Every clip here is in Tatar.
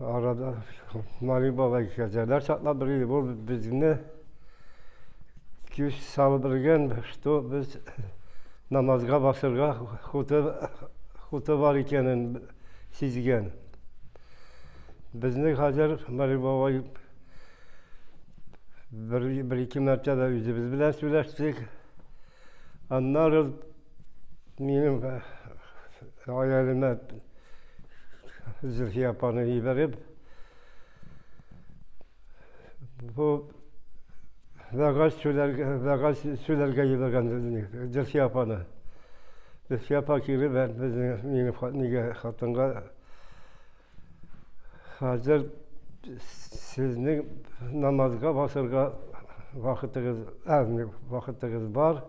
Арада Мари бабай кәҗәләр чаклап бер иде. Бу безне күз салып белгән, что без намазга басырга хуты, хуты бар икәнен сизгән. Безне хәзер Мари бабай бер-ике мәртәбә үзебез белән сөйләштек. Аннары минем гаиләмә Зөлфия апаны җибәреп, бу вәгазь сөйләргә, вәгазь сөйләргә җибәргән Зөлфия апаны. Зөлфия апа килеп, безнең минем хатынга Хәзер сезнең намазга басырга вакытыгыз, әзме вакытыгыз бар.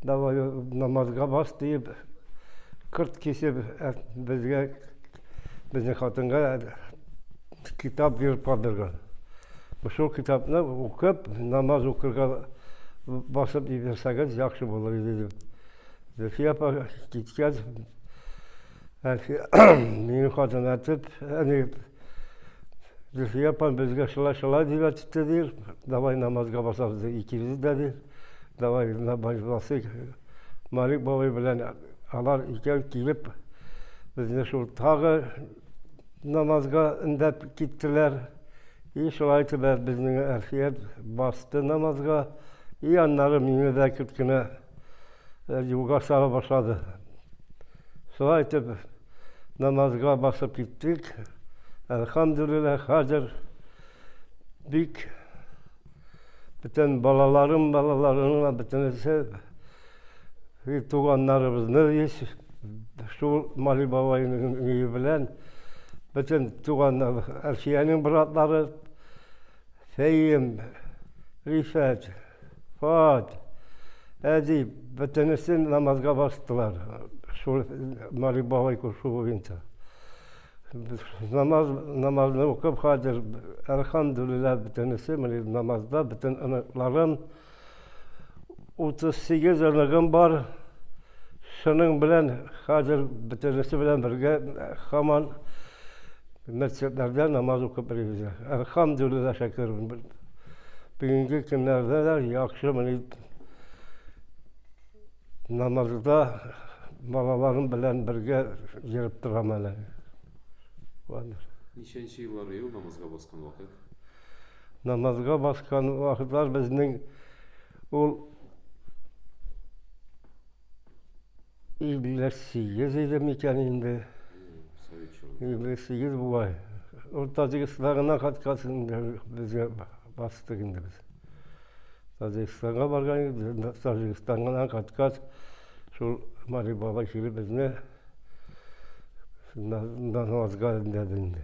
Давай намазга бас диеп, кырт кисеп безгә безнең хатынга китап биреп калдырган. Шул китапны укып, намаз укырга басып иберсәгез яхшы булыр иде дип. Зөлфия апа киткәч, Әнкәй, мине хатын әтеп, әни, Зөлфия апам безгә шулай-шулай дип әйтте, ди, давай намазга басабыз, ди, икебез дә, ди, давай намаз басыйк. Малик бабай белән алар икәү килеп, безне шул тагы намазга өндәп киттеләр. И шулай итеп, безнең Әлфия басты намазга, и аннары мине дә кечкенә юлга чыга башлады. Шулай итеп, намазга басып киттек. Әлхамдулилла, хәзер бик бөтен балаларым, балаларының бөтенесе туганнарыбызны еш шул Мали бабайның өе белән бөтен туганнар, Әлфиянең братлары, Фәем, Рифәт, Вот. Әди, бөтенесе намазга бастылар. Шул Марик бабай күрше буенча. Намаз, намазны укып хәзер, әлхамдулилла, бөтенесе, менә намазда, бөтен оныкларым, 38 оныгым бар. Шуның белән хәзер бөтенесе белән бергә хаман мәчетләрдә намаз укып йөрибез. Әлхамдулилла шәкер. Бүгенге көннәрдә дә яхшы мени намазда балаларым белән бергә йөреп торам әле. Валер. Ничәнче еллар ел намазга баскан вакыт? Намазга баскан вакытлар безнең Ул Ибле сигез иде микән инде? Ибле сигез бугай. Ул Таҗикстанга гына кайткач инде безгә бастык инде без. Таҗикстанга барган идек, Таҗикстанга гына кайткач, шул Мари баба килеп безне намазга өндәде инде.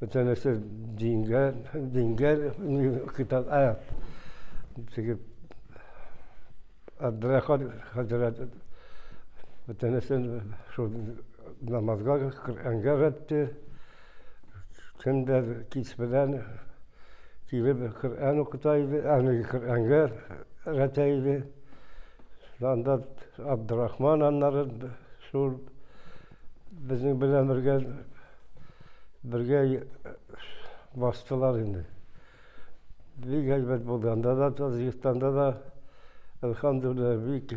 бөтә нәрсә дингә дингә китап ә теге Абдрахман хәзрәт бөтә нәрсә шул намазга Коръәнгә рәтте көн дә кич белән килеп Коръән укыта иде аны Коръәнгә рәтә иде анда Абдрахман аннары шул Безнең белән бергә бергә бастылар инде. Бик әйбәт булды. Анда да Таҗикстанда да әлхәмдүлилләһ бик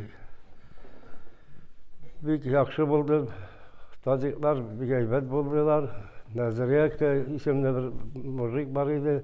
бик яхшы булды. Таҗиклар бик әйбәт булдылар. Назарияка исемле бер мужик бар иде.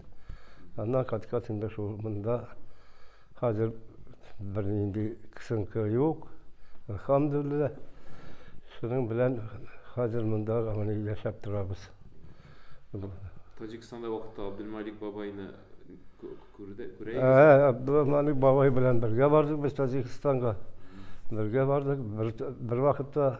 Аннан кайткач инде шул монда хәзер бернинди кысынкы юк, әлхәмдүлилләһ. Шуның белән хәзер монда менә яшәп торабыз. Таҗикстанда вакытта Абдулмалик бабайны күрде, күрә идегез? Ә, Абдулмалик бабай белән бергә бардык без Таҗикстанга. Бергә бардык, бер вакытта.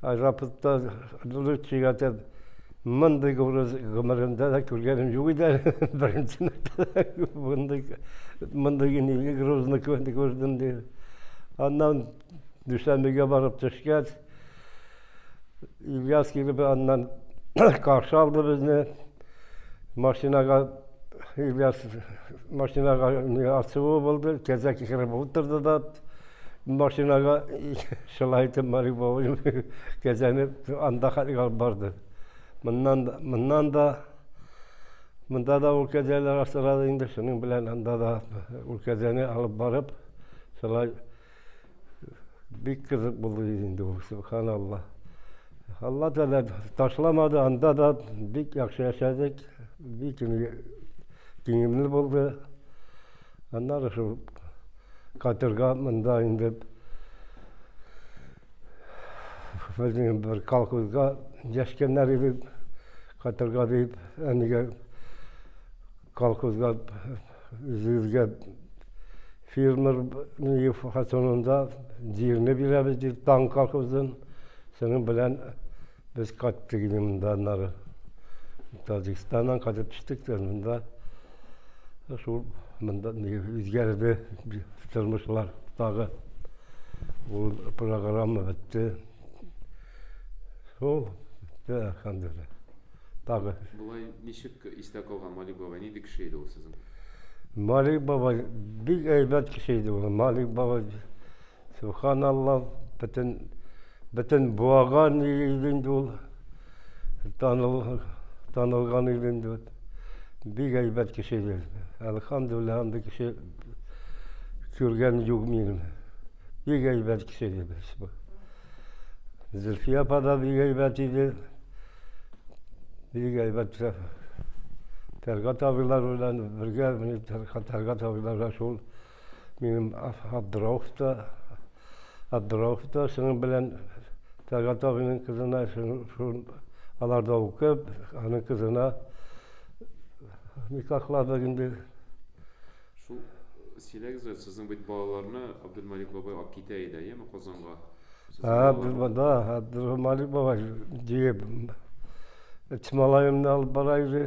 Аэропортта дулый чигәтеп мондый гүрез гомеремдә дә күргәнем юк иде әле. Беренче мәртәбә мондый мондый гүрне грузны күрдем, ди. Аннан Дүшәнбегә барып төшкәч, Ильяс килеп аннан каршы алды безне. Машинага Ильяс машинага ачуы булды, кәҗә китереп утырды да. Машинага шулай итеп Мари бабай кәзәнеп анда хәтлек алып барды. Моннан да, моннан да монда да ул кәзәләр асрады инде, шуның белән анда да ул кәзәне алып барып, шулай бик кызык булды инде ул, субханалла. Алла Тәгалә ташламады, анда да бик яхшы яшәдек, бик күңелле булды. Аннары шул катерга монда инде безнең бер колхозга дәшкәннәр иде. Катерга дип, әнигә колхозга үзебезгә фермер фасонында җирне бирәбез дип, Таң колхозын, шуның белән Без кайтты генә монда аннары. Таҗикстаннан кайтып төштек тә монда. Шул монда үзгәрде тормышлар тагы. Ул программа бетте. Шул бетте, әлхәмдүлилләһ. Тагы. Болай ничек истә калган Малик бабай? Нинди кеше иде ул сезнең? Малик бабай бик әйбәт кеше иде ул. Малик бабай Сөбханалла, бөтен, бөтен буаган иде инде ул. Таныл, танылган иде инде. Бик әйбәт кеше иде. Әлхамдулилла, андый кеше күргән юк минем. Бик әйбәт кеше иде без. Зөлфия апа да бик әйбәт иде. Бик әйбәт. Фәргат абыйлар белән бергә, Фәргат абыйлар да шул Минем Абдраухта, Абдраухта шуның белән Тәлгат абыйның кызына шул аларда укып, аның кызына никахладык инде. Шул сөйләгез әле, сезнең бит балаларны Абдулмалик бабай алып китә иде, яме Казанга? Абдулмада, Абдулмалик бабай диеп, Тималаемны алып бара иде.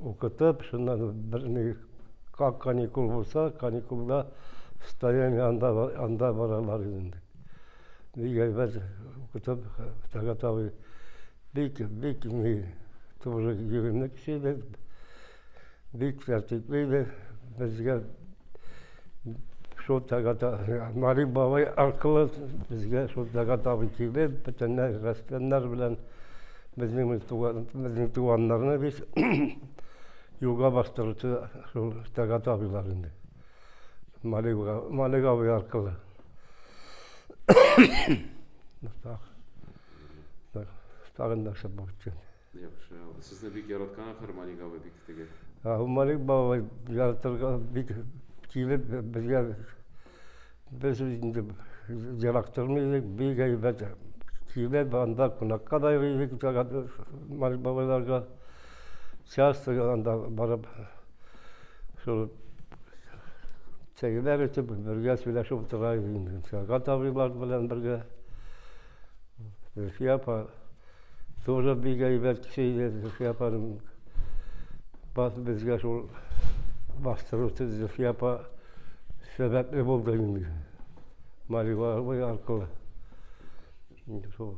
Укытып, шуннан бер ни как каникул булса, каникулда стаяние анда анда баралар инде. Бик әйбәт укытып, Тәгат абый бик бик ни туры йөгемле кеше иде. Бик тәртипле иде. Безгә шул Тәгат Мари бабай аркылы безгә шул Тәгат абый килеп, бөтенләй рәссамнар белән Безнең без туган, безнең туганнарны бит юлга бастыручы шул Тәгат абыйлар инде. Малик, Малик абый аркылы. так. Так, тагын нәрсә булып киткән. Яхшы. Сезне бик яраткан ахыр Малик абый бик теге. Малик бабай яратырга бик килеп безгә Без инде ерак тормый идек, бик әйбәт килеп, анда кунакка да йөри идек, Марик бабайларга. Часто анда барып, шул чәйләр эчеп, бергә сөйләшеп утыра идек инде. Сәгать абыйлар белән бергә Зөлфия апа тоже бик әйбәт кеше иде. Зөлфия апаның бас безгә шул бастыру Зөлфия апа сәбәпле булды инде. Малива аркылы. Шул.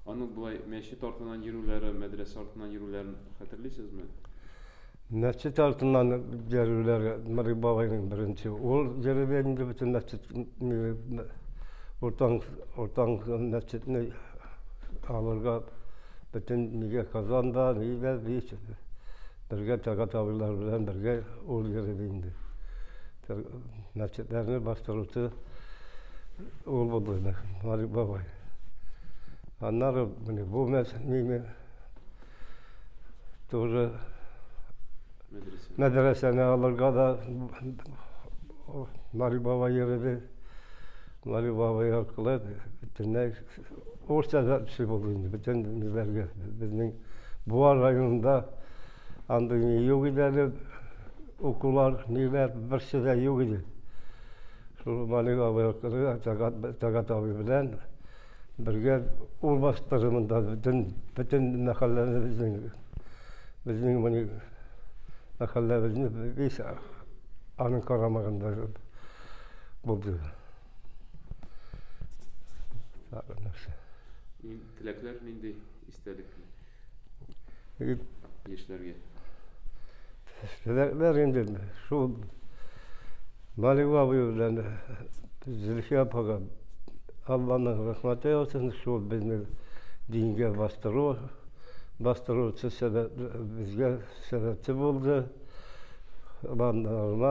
Аның болай мәчет артыннан йөрүләре, мәдрәсә артыннан йөрүләрен хәтерлисезме? Мәчет артыннан йөрүләр Нурый бабайның беренче ул йөрде инде бөтен мәчет уртан уртан мәчетне алырга бөтен нигә Казанда нигә бит бергә тага табылар белән бергә ул йөрде инде. Мәчетләрне бастыручы ул булды инде Нурый бабай. Аннары менә бу мәчет Тоже мәдрәсәне алырга да Мари баба йөрде. Мари баба аркылы бөтенләй урысча да эшли булды инде бөтен ниләргә. Безнең Буа районында андый ни юк иде әле, укулар, ниләр, берсе дә юк иде. Шул Мари баба аркылы Тәгат абый белән Бергә урбаштыры монда бөтен, бөтен мәхәлләне безнең, безнең моны мәхәлләбезне весь аның карамагында булды. Теләкләр нинди истәлекле? Яшьләргә. Теләкләр инде шул Малива абый белән Зөлфия апага Алланың рәхмәте яусын, шул безне дингә бастыру, бастыручы сәбәп, безгә сәбәпче булды. Аллаһның рәхмәте.